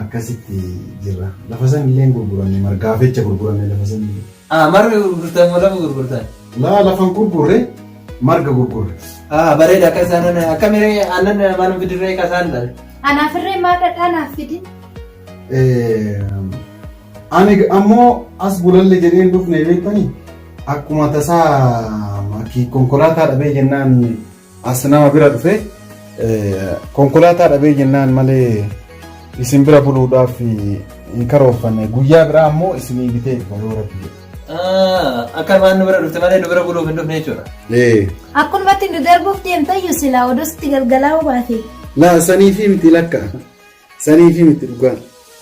akkasitti jirra. Lafa san illee hin gurguranne margaaf jecha gurguranne lafa san illee. Ah, marga gurgurtan moo lafa gurgurtan? Laa lafan gurgurre marga gurgurre. Ah, bareeda akka isaan ana akka miree aannan maalum bidirree kasaan dha. Anaaf irree maal dhadhaa naaf fidi? Eh, Ani g- ammoo as bulalle jedhee hin dhufne beektanii akkuma tasaa maki- konkolaataa dhabee jennaan as nama bira dhufe konkolaataa dhabee jennaan malee isin bira buluudhaaf hin karooffanne guyyaa biraa ammoo isinii bitee dhufa yoo rabbi jedhe. Akka waan nu bira dhufte malee nu bira buluuf hin dhufne jechuudha. Akkanumatti nu darbuuf deemtayyu silaa odoo sitti galgalaa'uu baate. Laa saniifii miti lakka. Sanii fi mitti dhugaa.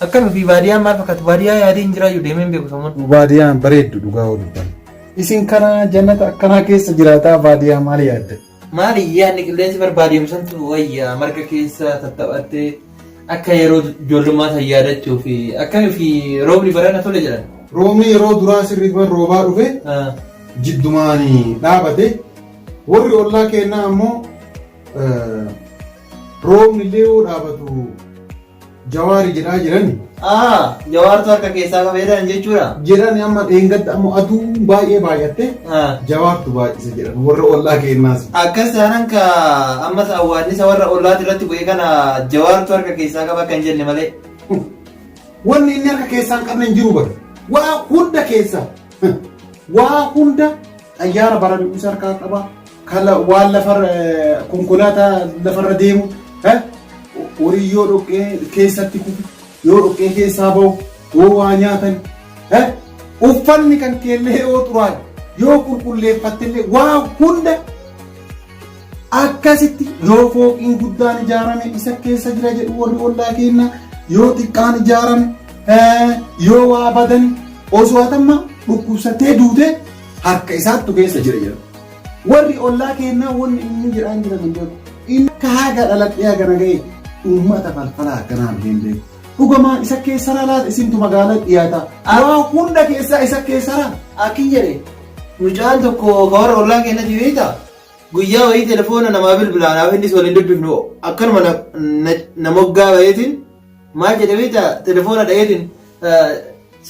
Akkam ofii baadiyaan maal fakkaatu baadiyaa yaadee hin jiraayyuu deemee hin beeku samuun. Baadiyaan bareeddu dhugaa yoo dubbanne. Isin kana jannata akkanaa keessa jiraataa baadiyaa maal yaadda? Maali yaadni qilleensi barbaadiyamu santu wayya marga keessa tattaphattee akka yeroo ijoollummaa san yaadachuu fi akkami fi roobni barana tole jedhan. Roobni yeroo duraa sirriitti bar roobaa dhufe Ah, jiddumaan dhaabate warri ollaa keenyaa ammoo Roobni illee yoo dhaabatu jawaari jedhaa jirani. Aa, jawaartu harka keessaa qaba jedhan jechuudha. Jedhani amma dheengadda amma aduu baay'ee baay'atte Haa. jawaartu baay'ise jedhan warra ollaa keenyaas. Akkas taanaan ka ammas awwaannisa warra ollaati irratti bu'e kana jawaartu harka keessaa qaba kan jenne malee. Wanni inni harka keessaa hin qabne hin jiru bara. Waa hunda keessa. Waa hunda Xayyaara bara du'uus harkaa qaba. Waan lafarra konkolaataa lafarra deemu horii yoo dhoqqee keessatti kufu yoo dhoqqee keessaa bahu yoo waa nyaatan uffanni kan keellee yoo xuraa'e yoo qulqulleeffattillee waa hunda Akkasitti yoo fooqiin guddaan ijaarame isa keessa jira jedhu warri ollaa keenya yoo xiqqaan ijaarame eh, yoo waa badan osoo atamma dhukkubsattee duute harka isaattu keessa jira jedhu. Warri ollaa keenya wanni inni jedhaan jiran hin beeku. Inni akka haga dhaladhee hagana ga'e uummata falfalaa akkanaan hin beeku. Dhugumaan isa keessa laata isintu magaalaa dhiyaata. Waa hunda keessaa isa keessa laata. Akki jedhe mucaan tokko ka warra ollaa keenyatti beekta Guyyaa wayii telefoona namaa bilbilaa naaf innis waliin dubbifnu akkanuma na, na, na moggaa bayeetiin maal jedhe beekta telefoona dhayeetiin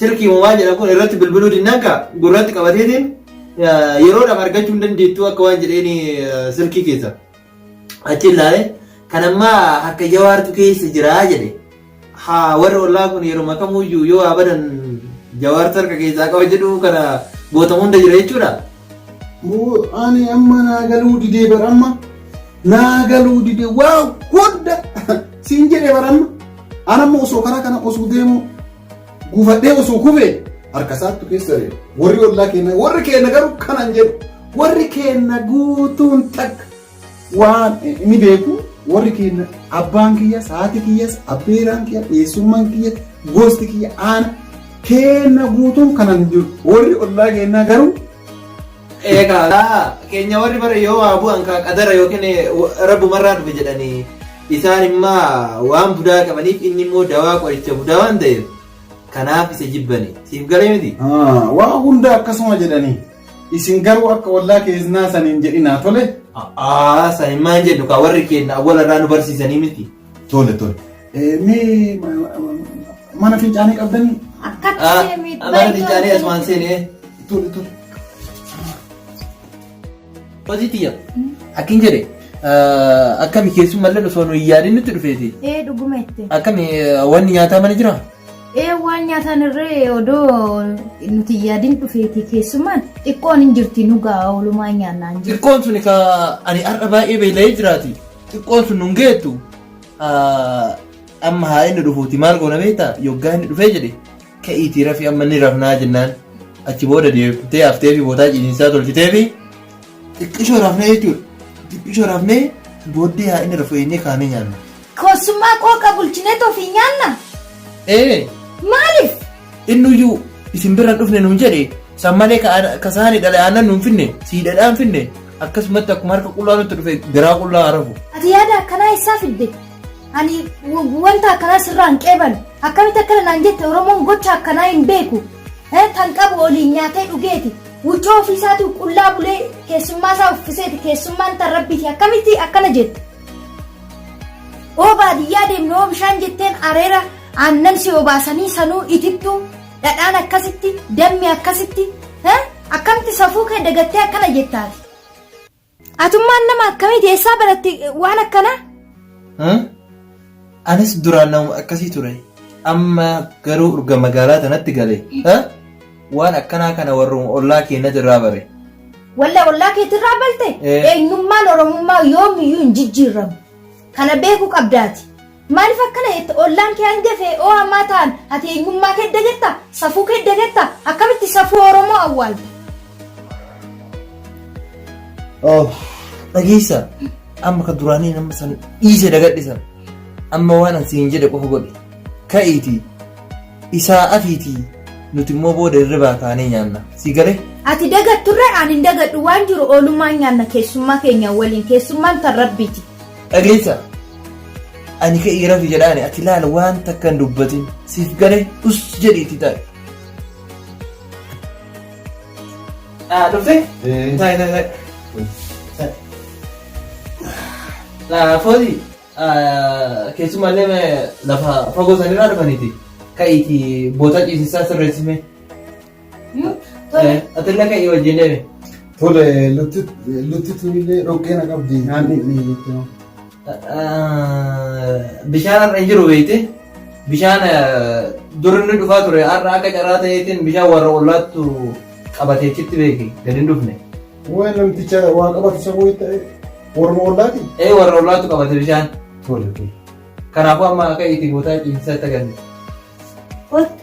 sirkii moo maal jedhan kun irratti bilbiluu dinnaan kaa gurratti qabateetiin eh, yeroodhaaf argachuu hin dandeettu akka waan jedheeni eh, sirkii keessa. Achi ilaalee kan ammaa harka jawaartu keessa jiraa jedhe. Haa warri ollaa kun yeruma kamuyyuu yoo waa badan jawaartu harka keessaa qaba jedhu kana gootamu hunda jira jechuudha. Moo ani amma naa galuu didee bara amma naa galuu didee waa hunda siin jedhee bara amma an amma osoo karaa kana osoo deemu gufadhee osoo kufee harka isaattu keessa jira. Warri ollaa keenya warri keenya garuu kanan jedhu warri keenya guutuun takka waan ni beeku warri keenya abbaan kiyyas haati kiyyas abbeeraan kiyya eessummaan kiyya gosti kiyya aana keenya guutuun kanan jiru warri ollaa keenyaa garuu eegaa keenya warri bara yoo waa bu'an kaa qadara yookiin rabbumarraa dhufe jedhanii isaan immaa waan budaa qabaniif inni immoo dawaa qoricha budaa waan ta'eef kanaaf isa jibbani siif galee miti waa hunda akkasuma jedhanii Isin garuu akka ollaa keessaa san hin jedhinaa tole. Aa san hin maan jedhu kaa warri keenya awwala irraa nu barsiisanii miti. Tole tole. Mee mana fincaanii qabdanii? Akkatti miidhaa. Mana fincaanii asumaan seenee. Tole tole. Hojii tiyya. Akkin jedhe. Akkami keessummallee osoo nu hin yaadin nutti dhufeeti. Ee dhuguma itti. Akkami wanni nyaataa mana jiraa? Ee waan nyaataan irree odoo nuti hin yaadin dhufeeti keessumaan xiqqoon hin jirti nu ga'a oolumaa nyaannaa hin jirti. Xiqqoon sun ka ani har'a baay'ee beela'ee jiraati. Xiqqoon sun nun geettu ah, amma haa inni dhufuuti maal goona beektaa yoggaa inni dhufee jedhe ka'iitii rafii amma ni rafnaa jennaan achi booda deebitee haftee fi bootaa ciisinsaa tolchitee fi xiqqishoo rafnee jechuudha. Xiqqishoo rafnee booddee haa inni rafu eennee kaanee nyaanna. Koossummaa qooqa bulchinee too fi nyaanna? Ee! Maaliif? Innuyyuu isin bira hin dhufne nuun jedhe, san malee ka aana- ka saani dhale aannan nuun finne, sii dhadhaan finne, akkasumatti akkuma harka qullaa nutti dhufe garaa qullaa haa rafu. Ati yaada akkanaa eessaa fidde? Ani w- wanta akkanaa sirraa hin qeeban. Akkamitti akkana naan jette Oromoon gocha akkanaa hin beeku. Eh, Tan qabu oliin nyaatee dhugeeti. Wuccoo ofiisaatuu qullaa bulee keessummaa isaa uffiseeti keessummaan tan rabbiiti akkamitti akkana jette? oo baadiyyaa deemne oo bishaan jetteen areera aannan si obaasanii sanuu itittuu dhadhaan akkasitti dammi akkasitti eh, akkamti safuu kee dagattee akkana jettaati atummaan nama akkamiiti eessaa baratti eh, waan akkanaa Huh? Anis duraan namuma akkasii ture. Amma garuu urga magaalaa tanatti gale. Ha? Waan akkanaa kana warruma ollaa keenyatti irraa bare. Walla ollaa keetirraa balte Eh. eenyummaan oromummaa yoomiyyuu hin jijjiirramu. Kana beekuu qabdaati. Maaliif akkana jette ollaan kee hangafee oo ammaa ta'an ati eenyummaa kee dagatta safuu kee dagatta akkamitti safuu oromoo awwaalta. Oh, dhageessa. Amma ka duraanii nama san dhiise dagadhi san. Amma waan an siin jedhe qofa godhi. Ka'iitii isaa afiitii nuti immoo booda hirribaa kaanee nyaanna. Si galee? Ati dagatturre ani hin dagadhu waan jiru oolummaan nyaanna keessummaa keenya waliin keessummaan tan rabbiiti. Dhageessa. Ani ka'ii rafi jedhaani ati laala waan takka hin dubbatin. Siif galee us jedhiiti taa'e. Dhufte? Taa'e taa'e taa'e. Fooli keessumaallee lafa fagoo sanirraa dhufaniiti. Ka'iiti boota ciisessaa sirreessime. Atillee ka'ii wajjin deeme. Tole lutti tunillee dhoqqee na qabdi nyaanni inni jechuudha. Bishaan har'a hin jiru beekte. Bishaan dur inni dhufaa ture har'a akka carraa ta'eetiin bishaan warra ollaattu qabatee achitti beeki gadi hin dhufne. Waa'ee namticha waa qabatu isa wayii ta'e warra ollaati. Ee warra ollaattu qabate bishaan. Tole tole. Kanaafuu amma akka itti gootaa ciisisaa itti agarsiisa. Kottu.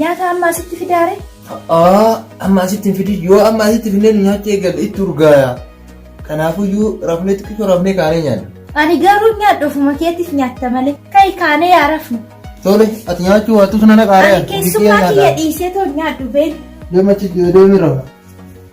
Nyaata amma asitti fidaare? A'aa amma asitti hin fidin yoo amma asitti finnee nu nyaachuu eegalle itti urgaaya. Kanaafuyyuu rafnee xiqqisoo rafnee kaanee nyaanna. Ani garuu nyaadhu ofuma keetiif nyaatta malee. Ka'i kaanee yaa rafnu. Tole ati nyaachuu waattus nana qaaree Ani keessummaa kiyya dhiisee too nyaadhu beela. Deemachi deemi rafa.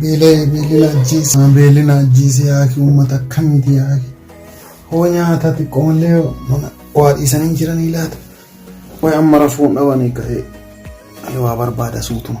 Beelee beelina ajjeese. Beelina ajjeese yaaki uummata akkamiiti yaaki. Hoo nyaata xiqqoomallee mana waa dhiisanii jiranii laata. Wayi amma rafuun dhabanii ka'ee waa barbaada suutuma.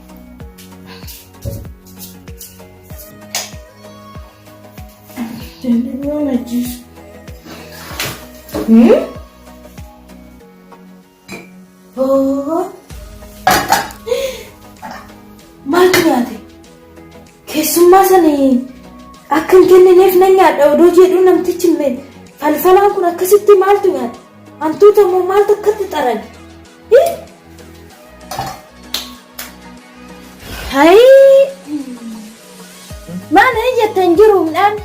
Maaltu nyaate? Keessummaa sana akka hin kennineef nan nyaadha odoo jedhu namtichi falfalaan kun akkasitti maaltu nyaate? Hantuuta moo maaltu akkatti xarage? Hai. Mana ijjattan hin jiru midhaan.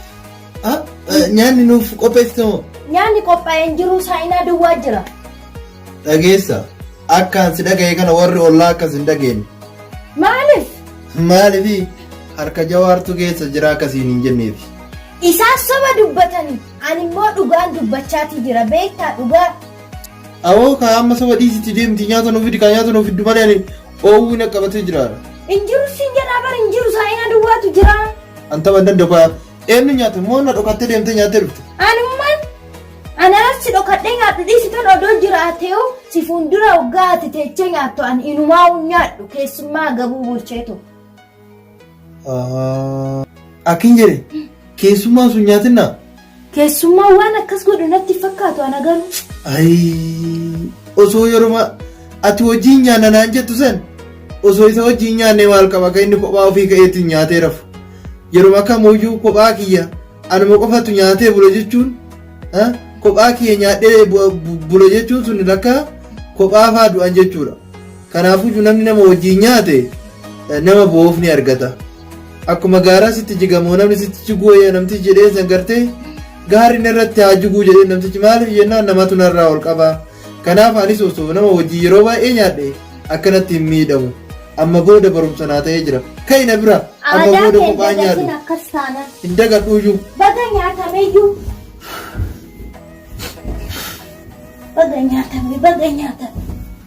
Ah, eh, nyaanni nuuf qopheessite moo? Nyaanni qophaa'ee hin jiru saayinaa duwwaa jira. Dhageessa. Akkaan si dhaga'e kana warri ollaa akkas hin dhageenye. Maaliif? Maaliifi harka jawaartu keessa jira akkasiin hin jenneefi. Isaan soba dubbatanii ani immoo dhugaan dubbachaatii jira beektaa dhugaa. Awoo kaa amma soba dhiisiti deemti nyaata nuu fidi kaa nyaata nuu fiddu malee ani oowwii na qabatee jiraara. Hin jiru siin jedhaa bar hin jiru saayina duwwaatu jira. An tapha hin danda'u kaa eenyu nyaata moo na dhokattee deemtee nyaattee dhufte. Anummaan anaan si dhokadhee nyaadhu dhiisitan odoo jiraateeyu si fuuldura hoggaa ati teechee nyaattu an inumaa hin nyaadhu keessummaa gabuu bulcheetu. Akkin jedhe keessummaan sun nyaatinna. Keessummaa waan akkas godhu natti fakkaatu ana garuu. Ayii osoo yeruma ati wajjin nyaanna naan jettu san osoo isa wajjin nyaannee maal qaba akka inni kophaa ofii ka'eetiin nyaatee rafu. Yeruma kamuyyuu kophaa kiyya anuma qofatu nyaatee bula jechuun ah, kophaa kiyya nyaadhee bu- bu- bula jechuun sun lakkaa kophaa faa du'an jechuudha. Kanaafuyyu namni nama wajjiin nyaate nama boo'uuf ni argata. Akkuma gaaraa sitti jigamoo namni sitti jiguu wayya namtichi jedheen san gartee gaarri narratti haa jiguu jedheen namtichi maaliif jennaan namatu narraa ol qaba. Kanaaf anis osoo nama wajjiin yeroo baay'ee nyaadhe akkanatti hin miidhamu. Amma booda barumsa naa ta'ee jira. Ka'i na bira amma Aadaa booda kee kophaa nyaadhu. dagatin akkas taanaan. Hin dagadhuuyyuu. Baga nyaatameyyuu. Baga nyaatame, baga nyaatame.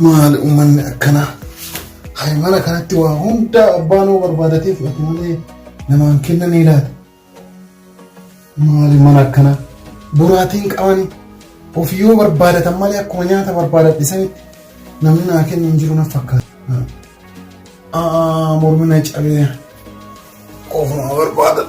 Maali uummanni akkanaa? Haymana kanatti waa hundaa abbaan hoo barbaadatee fudhate malee namaan kenna ni laata? Maali mana akkanaa? Buraatiin qabani of yoo barbaadatan malee akkuma nyaata barbaadadhe sanitti namni naa kennu hin jiru na fakkaata. Aa mormi na cabee ofuma barbaadadha.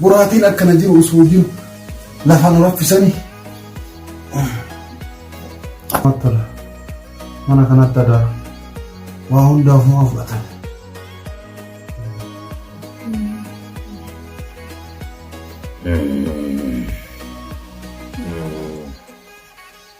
Boraatiin akkana jiru osoo jiru lafa nu raffisanii. Mattala mana kanatti adaa waa hundaaf nu fudhatan. Mm.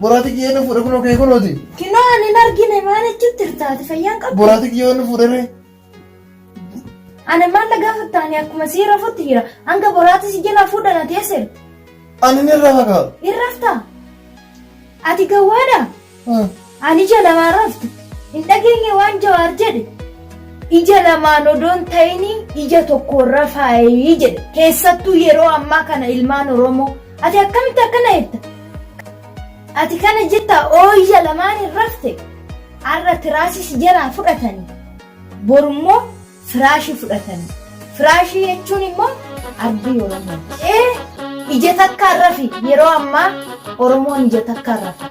Boraati kiyyee inni fuudhe kunoo kee kunooti. Kinoo ani hin argine maal achitti hirtaati fayyaan qabu. Boraati kiyyee inni fuudhe ree. Ani maal na gaafatta ani akkuma sii rafutti jira. Hanga boraati si jalaa fuudhan ati eessa jirta? Ani ni irraa fagaa. Hin raftaa? Ati gawwaadhaa? Ani ija lamaan raftu hin dhageenye waan jawaar jedhe. Ija lamaan odoon ta'ini ija tokkoon rafaayii jedhe. Keessattuu yeroo ammaa kana ilmaan Oromoo. Ati akkamitti akkana jetta? Ati kana jetta oo ija lamaan hin rafte. Har'a tiraasii si jalaa fudhatanii. Borummoo firaashii fudhatanii. Firaashii jechuun immoo ardii Oromoo. Ee ija takkaan rafi yeroo ammaa Oromoon ija takkaan rafa.